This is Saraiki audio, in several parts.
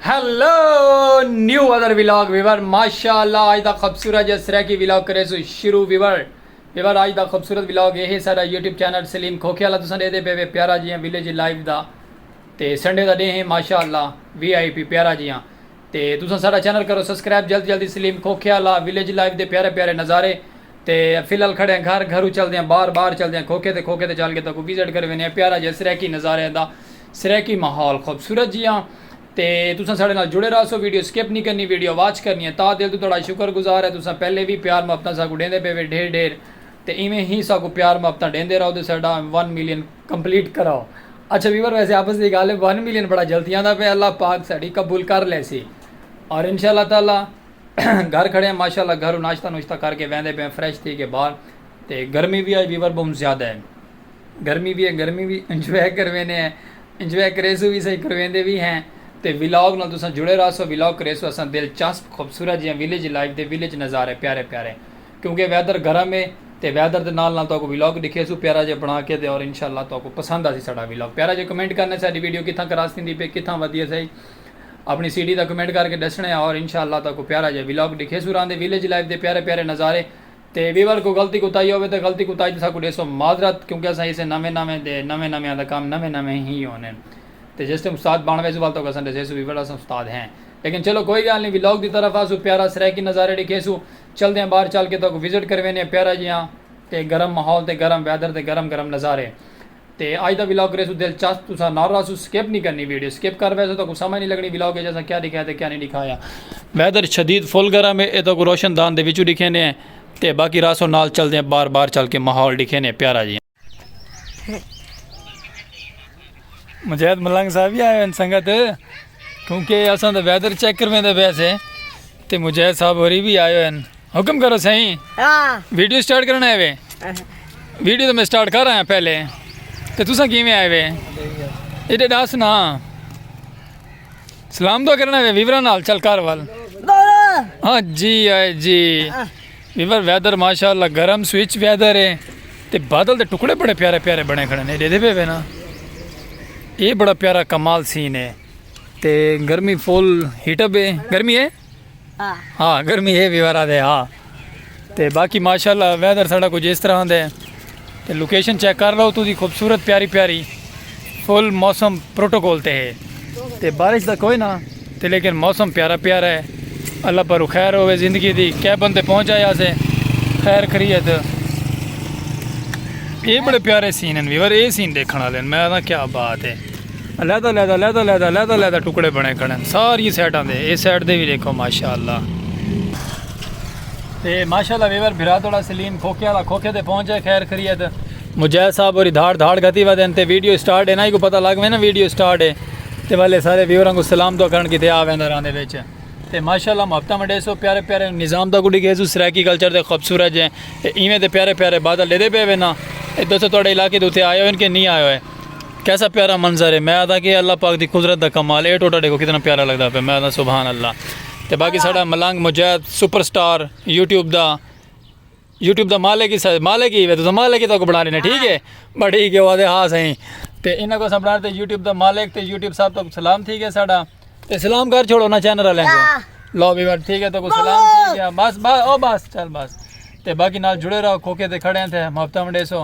Hello new other vlog viewer ماشاء اللہ آج دا خوبصورت جس طرح کی ویلاگ کرے سو شروع ویور ویور آج دا خوبصورت ویلاگ یہ ہے سارا یوٹیوب چینل سلیم کھوکھے والا تسان دے دے پے وے پیارا جیاں ویلیج لائیو دا تے سنڈے دا ڈے ہیں ماشاء اللہ وی آئی پی پیارا جیاں تے تساں ساڈا چینل کرو سسکرائب جلد جلدی سلیم کھوکھیا لا ولیج لائف دے پیارے پیارے نظارے تے فی الحال کھڑے ہیں گھر گھرو چلدے ہیں بار بار چلدے ہیں کھوکھے تے کھوکھے تے چل کے تہاکوں وزٹ کرے وینے ہیں پیارا جیہا سرائیکی نظاریاں دا سرائیکی ماحول خوبصورت جیہاں تے تساں ساڈے نال جڑے رہسو ویڈیو سکپ نی کرنی ویڈیو واچ کرنی ہے تاں دل توں تہاڈا شکر گزار ہیں تساں پہلے وی پیار محبتاں ساکوں ڈیندے پے وے ڈھیر ڈھیر تے ایویں ہی ساکوں پیار محبتاں ڈیندے رہو تے ساڈا ون ملین کمپلیٹ کراؤ۔ اچھا ویور ویسے آپس دی گالھ ہے ون ملین بڑا جلد تھیاندا پیا اللہ پاک ساڈی قبول کر لیسی اور انشاء اللہ تعالی گھر کھڑے ہیں ماشاء اللہ گھرو ناشتہ نوشتہ کر کے ویندے پے فریش تھی کے باہر تے گرمی وی آج ویور بہت زیادہ ہے گرمی وی ہے گرمی وی انجوائے کروینے ہیں انجوائے کریسو وی صحیح کرویندے وی ہیں تے ولاگ نال تساں جڑے رہسو ولاگ کریسو اساں دلچسپ خوبصورت جیاں ولیج لائف دے ولیج نظارے پیارے پیارے کیونکہ ویدر گرم ہے تے ویدر دے نال نال تہاکوں ولاگ ڈکھیسوں پیارا جیہا بنا کے تے اور انشاء اللہ تہاکوں پسند آسی ساڈا ولاگ پیارا جیہا کمنٹ کرنا ساڈی ویڈیو کتھاں کراس تھیندی پئی کتھاں ودی اسائی اپنی سٹی دا کمنٹ کر کے ڈسنڑے اور انشاء اللہ تہاکوں پیارا جیہا ولاگ ڈکھیسوں راندے ویلیج لائف دے پیارے پیارے نظارے تے ویور کوئی غلطی کوتاہی ہووے تے غلطی کوتاہی تے ساکوں ڈیسو معذرت کیونکہ اساں اسے نویں نویں تے نویں نویں آں دا کم نویں نویں ہی ہوونے ہن تے جس ٹائم استاد بن ویسوں ول تہاکوں اساں ڈسیسوں ویور اساں استاد ہیں لیکن چلو کوئی گالھ نی ولاگ دی طرف آسوں پیارا سرائیکی نظارے ڈکھیسوں چلدے آں باہر چل کے تہاکوں وزٹ کرویندے آں پیارا جیہا تے گرم ماحول تے گرم ویدر تے گرم گرم نظارے تے اج دا ولاگ ریسوں دلچسپ تساں نال رہسو سکپ نی کرنی ویڈیو سکپ کر بیسو تہاکوں سمجھ نی لگنی ولاگ اچ اساں کیا ڈکھایا تے کیا نی ڈکھایا ویدر شدید فل گرم ہے اے تہاکوں روشن دان دے وچوں ڈکھیندے ہیں تے باقی رہسو نال چلدے آں باہر باہر چل کے ماحول ڈکھیندے ہیں پیارا جیہا۔ مجاہد ملنگ صاحب ہی آئے ہیں سنگت کیونکہ اساں دا ویدر چیک کرویں دے بیس ہیں تے مجاہد صاحب ہوری بھی آئے ہیں حکم کرو سہی ہاں۔ ویڈیو سٹارٹ کرنا ہے وے ویڈیو تو میں سٹارٹ کر رہا ہوں پہلے تے تساں کیویں آئے وے ایڈے داس نا سلام دعا کرنا ہے وے ویورا نال چل کر وال ہاں جی آئے جی ویور ویدر ماشاءاللہ گرم سوئچ ویدر ہے تے بادل دے ٹکڑے بڑے پیارے پیارے بنے کھڑے نے دیدے پے نا اے بڑا پیارا کمال سین ہے تے گرمی فول ہیٹ اپ ہے گرمی ہے ہاں ہاں گرمی ہے ویور آدھے ہاں تے باقی ماشاءاللہ ویدر ساڑا کچھ اس طرح دے تے لوکیشن چیک کر لو تو دی خوبصورت پیاری پیاری فل موسم پروٹوکول تے ہے تے بارش دا کوئی نہ تے لیکن موسم پیارا پیارا ہے اللہ پر خیر ہوئے زندگی دی کیا بندے پہنچ آیا سے خیر خریت یہ بڑے پیارے سین ہیں ویور یہ سین دیکھنا لین میں آدھا کیا بات ہے اللہ دا لیدہ لیدہ لیدہ لیدہ لیدہ ٹکڑے بنے کھڑے ساری سیٹاں دے یہ سیٹ دے بھی دیکھو ماشاءاللہ تے ماشاءاللہ ویور بھرا توڑا سلیم کھوکھے والا کھوکھے تے پہنچ جائے خیر خریت مجاہد صاحب اور دھاڑ دھاڑ گھتی وا دین تے ویڈیو سٹارٹ ہے نا کو پتہ لگ میں نا ویڈیو سٹارٹ ہے تے والے سارے ویوراں کو سلام دعا کرن کیتے آ ویندا راندے وچ تے ماشاءاللہ محبتاں وڈے سو پیارے پیارے نظام دا کو ڈگے سو سرائیکی کلچر دے خوبصورت جے ایویں دے پیارے پیارے بادل لے دے پے وینا اے دوستو توڑے علاقے دوتے آئے ہوئے ان کے نہیں آئے ہوئے کیسا پیارا منظر ہے میں آدھا کہ اللہ پاک دی قدرت دا کمال اے ٹوٹا ڈیکھو کتنا پیارا لگدا پیا میں آدھا سبحان اللہ تے باقی ساڈا Malang Mujahid super star YouTube دا یوٹیوب دا مالک ہی سر مالک ہی تو مالک ہی تو بنا لینا ٹھیک ہے بٹ ٹھیک ہے وہ آدھے ہاں سائیں تے انہاں کو سبنا تے یوٹیوب دا مالک تے یوٹیوب صاحب تو سلام تھی گیا ساڈا تے سلام کر چھوڑو نا چینل والے کو لو بھی بٹ ٹھیک ہے تو سلام تھی گیا بس بس او بس چل بس تے باقی نال جڑے رہو کھوکے تے کھڑے ہیں تے محبتہ منڈے سو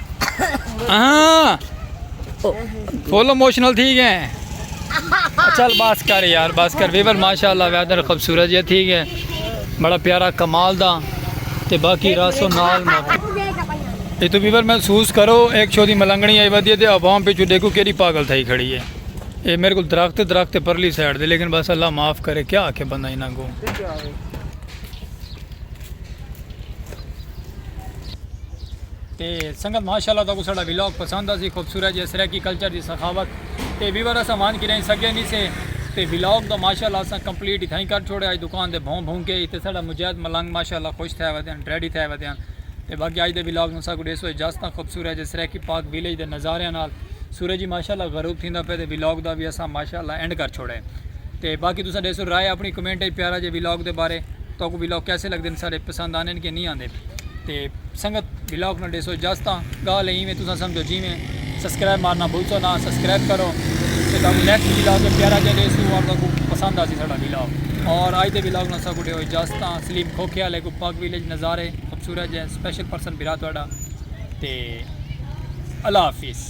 ہاں فل اموشنل تھی گئے چل بس کر یار بس کر ویور ماشاء اللہ ویدر خوبصورت جی تھی گئے بڑا پیارا کمال دا تے باقی راسو نال یہ تو ویور محسوس کرو ایک چھوٹی ملنگنی آئی ودی تے عوام پہ چھو دیکھو کیڑی پاگل تھائی کھڑی ہے یہ میرے کو درخت درخت پرلی سائڈ دے لیکن بس اللہ معاف کرے کیا آکھے بندہ انہاں کو تے سنگت ماشاءاللہ تاکوں ساڈا ولاگ پسند آسی خوبصورت جے سرائیکی کلچر دی سخاوت تے ویور اساں وانج کریں سگے نی سے تے ولاگ دا ماشاءاللہ اساں کمپلیٹ اتھائیں کر چھوڑے اج دکان دے بھوں بھوں کے تے ساڈا مجاہد ملنگ ماشاءاللہ خوش تھے ودے ہن ریڈی تھے ودے ہن تے باقی اج دے ولاگ نو ساکوں ڈیسو اجازت خوبصورت جے سرائیکی پارک ویلیج دے نظاریاں نال سورج ہی ماشاءاللہ غروب تھیندا پے تے ولاگ دا وی اساں ماشاءاللہ اینڈ کر چھوڑے۔ تے باقی تساں ڈیسو رائے اپنی کمنٹ اچ پیارا جے ولاگ دے بارے تہاکوں ولاگ کیسے لگدے ہن سارے پسند آندے ہن کہ نی آندے تے سنگت ولاگ نال ڈیسو اجازت آں گالھ اے ایویں تساں سمجھو جیویں سبسکرائب مارنا بھلسو نا سبسکرائب کرو تے تہاکوں نیکسٹ ولاگ اچ پیارا جے ڈیسو اور تہاکوں پسند آسی ساڈا ولاگ اور اج دے ولاگ نال اساکوں ڈیو اجازت آں سلیم کھوکھے آلے کوں پاک ویلیج نظارے خوبصورت جے سپیشل پرسن بھرا تہاڈا تے اللہ حافظ۔